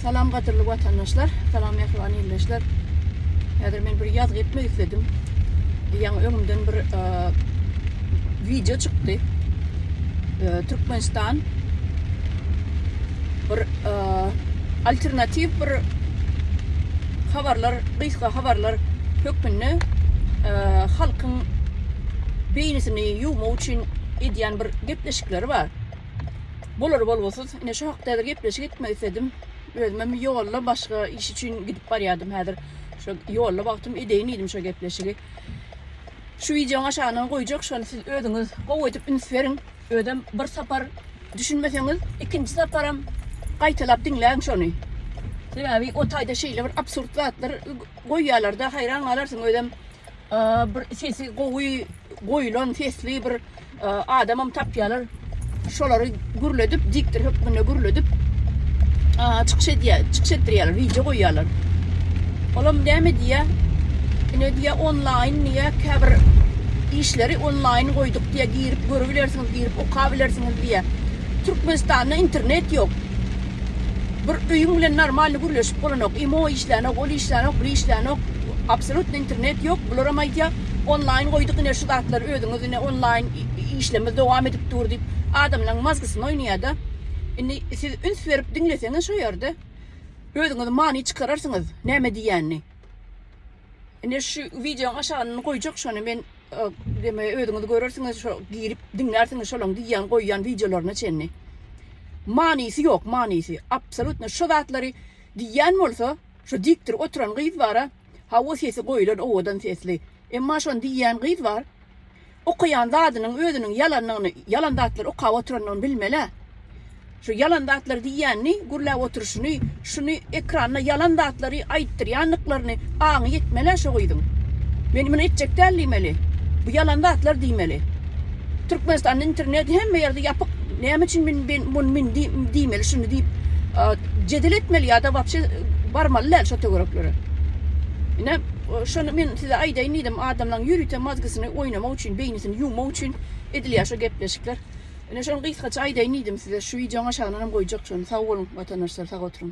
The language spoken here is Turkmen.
Salam gadyrly watandaşlar, salam mähriban ildeşler. Häzir men bir ýazgy etmek isledim. Ýaňy öňümden bir wideo çykdy. Türkmenistan bir alternatiw bir habarlar, gysga habarlar hökmünde halkyň beýnisini ýuwmak üçin edýän bir gepleşikleri bar. Bolar bolgusyz. Ine şu hakda häzir gepleşik etmek isledim. Özümem ýolda başga iş üçin gidip barýardym häzir. Şu ýolda wagtym edeýin diýdim şu gepleşigi. Şu wideoň aşagyna goýjak şony siz özüňiz gowy edip üns beriň. Özem bir sapar düşünmeseňiz, ikinji saparam gaýtalap diňläň şony. Sebäbi o taýda şeýle bir absurd zatlar goýýarlar-da, haýran galarsyň özem. Bir sesi gowy goýulan sesli bir adamam tapýarlar. Şolary gürledip, diktor hökmünde gürledip, çykyş edýär, çykyş etdirýärler, wideo goýýarlar. Olam näme diýýär? Ine diýýär, onlaýn diýýär, käbir işleri onlaýn goýduk diýýär, girip görübilersiňiz, girip okabilersiňiz diýýär. Türkmenistanda internet ýok. Bir öýüň bilen normalny gürleşip bolanok. Imo işlänok, ol işlänok, biri işlänok. Absolutno internet ýok. Bularam aýdýar, onlaýn goýduk ine şu zatlary özüňiz Ine onlaýn işlerimiz dowam edip dur diýip adamlaň mazgysyny oýnaýada. Indi siz üns berip diňleseňiz şo ýerde özüňiz many çykararsyňyz näme diýýänini. Ine şu wideoň aşagyny goýjak şony men deme özüňiz görersiňiz şo girip diňlärsiňiz şolaň diýýän goýýan wideolaryna çenli. Manysy ýok manysy absolutno şo zatlary diýýän bolsa şo dikdir oturan gyz bara hawa sesi goýulan owadan sesli. Emma şony diýýän gyz bar. Okaýan zadynyň özüniň ýalanlygyny, ýalan zatlar okap oturandygyny bilmeli-ä. Şu ýalan zatlar diýýänini, gürläp oturyşyny, şuny ekranda ýalan zatlary aýtdyrýandyklaryny aňy ýetmeli-ä şu gyzyň. Men muny etjek däl diýmeli. Bu ýalan zatlar diýmeli. Türkmenistanda internet hemme ýerde ýapyk. Näme üçin men men muny men diýmeli şuny diýip jedel etmeli ýa-da wapşe barmaly däl şo töwereklere. Ine Şony men size aýdaýyn diýdim, adamlaň ýörite mozgysyny oýnamak üçin, beýnisini ýuwmak üçin edilýär şo gepleşikler. Ine şony gysgaça aýdaýyn diýdim size, şu wideoň aşagynanam goýjak şony. Sag boluň watandaşlar, sag oturyň.